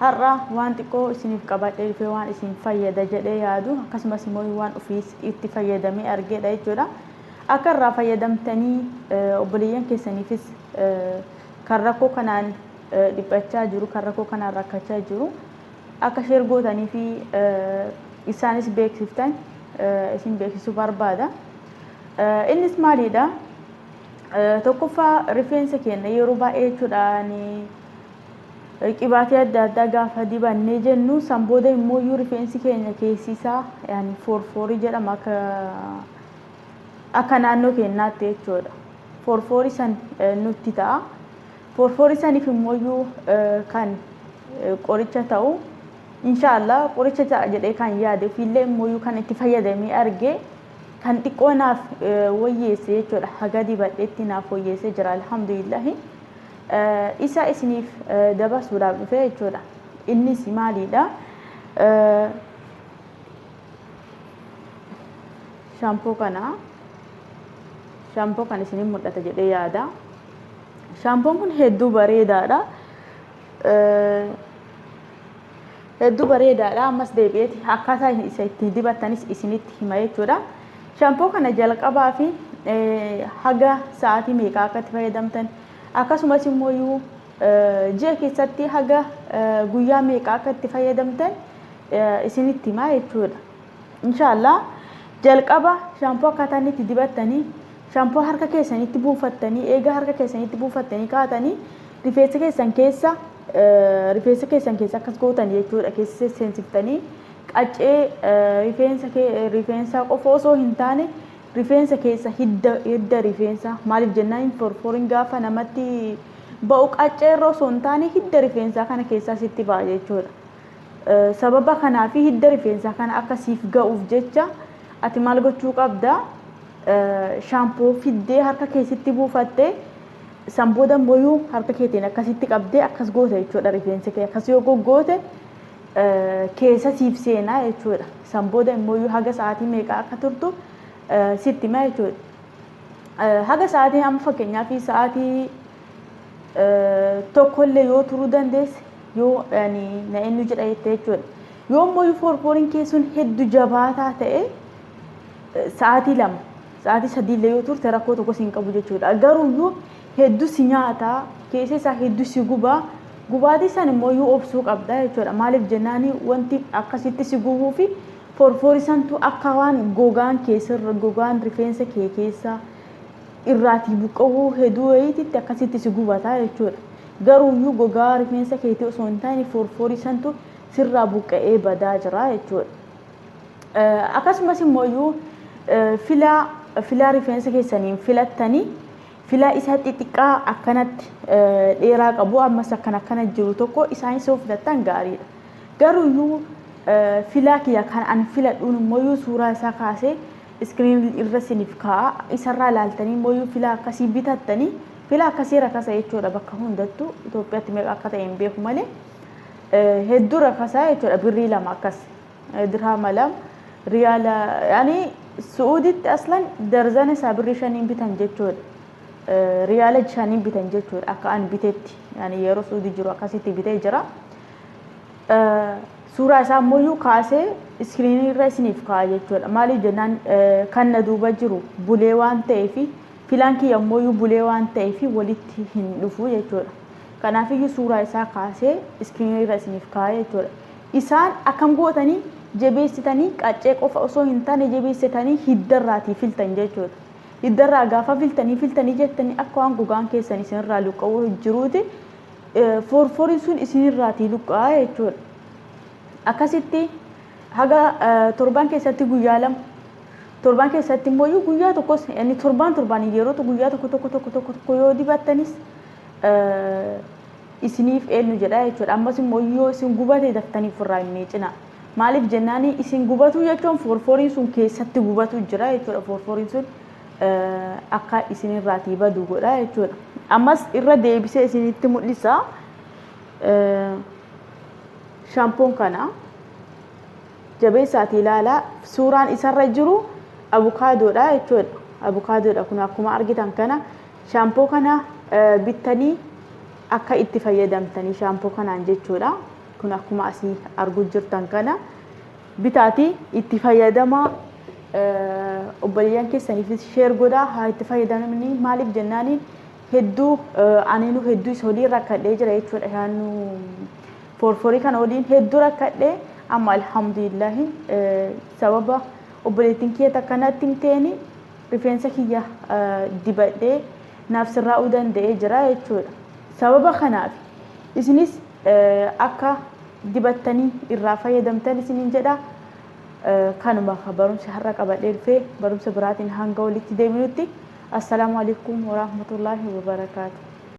Har'a waan xiqqoo isiniif qabadhee dhufee waan isin fayyada jedhee yaadu akkasumas immoo waan ofiis itti fayyadamee argeedha jechuudha. Akka irraa fayyadamtanii obboleeyyan keessaniifis kan rakkoo kanaan dhiphachaa jiru kan rakkoo kanaan rakkachaa jiru akka sheer gootanii fi isaanis beeksiftan isin beeksisuu barbaada. Innis maaliidha? Tokkoffaa rifeensa keenya yeroo baay'ee jechuudha ni Qibaatii adda addaa gaafa dibannee jennu san booda immoo iyyuu rifeensi keenya keessisaa yaani foorfoorii jedhama akka akka naannoo keenyaatti jechuudha. Foorfoorii san nutti ta'a. Foorfoorii saniif immoo iyyuu kan qoricha ta'u inshaallah qoricha ta'a jedhee kan yaade ofiillee immoo iyyuu kan itti fayyadamee arge kan xiqqoo naaf wayyeesse jechuudha. Haga dibadheetti naaf wayyeesse jira alhamdulillahi. Isa isiniif dabarsuudhaaf dhufe jechuudha. Innis maaliidha? Shampoo kana shampoo kan isiniin mul'ata jedhee yaada. Shampoon kun hedduu bareedaadha. Hedduu bareedaadha. Ammas deebi'eeti akkaataa isa ittiin dibattanis isinitti hima jechuudha. Shampoo kana jalqabaa fi haga sa'aatii meeqaa akka itti fayyadamtan Akkasumas immoo ji'a keessatti haga guyyaa meeqa akka itti fayyadamtan isinitti himaa jechuudha. Inshaallah jalqaba shaampoo akkaataa inni itti dibattanii shaampoo harka keessanitti buufattanii eega harka keessanitti buufattanii kaatanii rifeensa keessan keessa rifeensa keessan keessa akkas gootan jechuudha keessa seensiftanii qaccee rifeensa rifeensa qofa osoo hin taane Rifeensa keessa hidda hidda rifeensa maaliif jennaan hin forforiin gaafa namatti ba'u qaccee irra osoo hin taane hidda rifeensaa kana keessaa sitti ba'a jechuudha. Sababa kanaa fi hidda rifeensaa kana akka siif ga'uuf jecha ati maal gochuu qabda? Shaampoo fiddee harka keessitti buufattee san booda immoo harka keetiin akkasitti qabdee akkas goota jechuudha rifeensi kee akkas yoo goggoote keessa siif seenaa jechuudha. San booda immoo haga sa'aatii meeqaa akka turtu sitti hima jechuudha. Haga sa'aatii amma fakkeenyaaf sa'aatii tokkollee yoo turuu dandeesse yoo na eenyu jedha jette jechuudha. Yoo immoo foorfooriin kee sun hedduu jabaataa ta'e sa'aatii lama Sa'aatii sadiillee yoo turte rakkoo tokkos hin qabu jechuudha. Garuuyyuu hedduu si nyaata, keessa isaa hedduu si guba. Gubaatii san immoo yoo obsuu qabda jechuudha. Maaliif jennaan wanti akkasitti si gubuu fi forfoori santu akka waan gogaan keessa gogaan rifeensa kee keessa irraatii buqqa'uu hedduu wayiititti akkasitti si gubata jechuudha. Garuuyyuu gogaa rifeensa keetii osoo hin taane forfoori santu sirraa buqqa'ee badaa jira jechuudha. Akkasumas immooyyuu filaa filaa rifeensa keessaniin filattanii filaa isa xixiqqaa akkanatti dheeraa qabu ammas akkan akkana jiru tokko isaanis yoo filattan gaariidha. Garuuyyuu filaa kiyya kan an filadhuun immooyyuu suuraa isaa kaasee iskiriin irra isiniif kaa'a isarraa ilaaltanii immooyyuu filaa akkasii bitattanii filaa akkasii rakasa jechuudha bakka hundattuu Itoophiyaatti meeqa akka ta'e hin beeku malee hedduu rakasa jechuudha birrii lama akkas. dirhaama lama riyaala yani su'uuditti aslan darzana isaa birrii shaniin bitan jechuudha riyaala shaniin bitan jechuudha akka an bitetti yani yeroo su'uudi jiru akkasitti bitee jira suuraa isaa ammoo kaasee iskiriinii irra isiniif kaa'a jechuudha maaliif jennaan kan na duuba jiru bulee waan ta'eef filaan kiyya ammoo bulee waan ta'eef walitti hin dhufu jechuudha kanaafiyyuu suuraa isaa kaasee iskiriinii irra isiniif kaa'a jechuudha Isaan akkam gootanii jebeessitanii qaccee qofa osoo hin taane jebeessitanii hidda irraatii filtan jechuudha. Hidda irraa gaafa filtanii filtanii jettanii akka waan gogaan keessan isin irraa luqqa'uu jiruuti forforiin sun isin irraatii luqqa'a jechuudha. Akkasitti haga torban keessatti guyyaa lama torban keessatti immoo guyyaa tokkos inni torban torbaan yeroo guyyaa tokko tokko tokko tokko tokko yoo dibattanis isiniif eennu jedha jechuudha. Ammas immoo yoo isin gubate daftanii ofirraa hin miicinaa. Maaliif jennaani isin gubatuu jechuun foorfooriin sun keessatti gubatu jira jechuudha. Foorfooriin sun akka isinirraatii badu godha jechuudha. Ammas irra deebisee isinitti mul'isa. Shampoon kana jabeessaatii ilaalaa suuraan isarra jiru abukaadoodha jechuudha. Abukaadoodha kun akkuma argitan kana Shaampoo kana bittanii akka itti fayyadamtanii shaampoo kanaan jechuudha. Kun akkuma asii arguu jirtan kana bitaati itti fayyadamaa obboleeyyan keessaniifis sheer godhaa haa itti fayyadamanii maaliif jennaani hedduu aniinu hedduu isa waliin rakkadhee jira jechuudha shaannu forforii kana waliin hedduu rakkadhee amma alhamdulillahi sababa obboleettiin kiyya takkanatti himteeni rifeensa kiyya dibadhee naaf sirraa'uu danda'ee jira jechuudha. Sababa kanaaf isinis akka dibattanii irraa fayyadamtan isiniin jedha. Kanuma barumsi har'a qabadhee dhufe barumsa biraatiin hanga walitti deebinutti assalaamu alaikum warahmatullaahi wabarakaatu.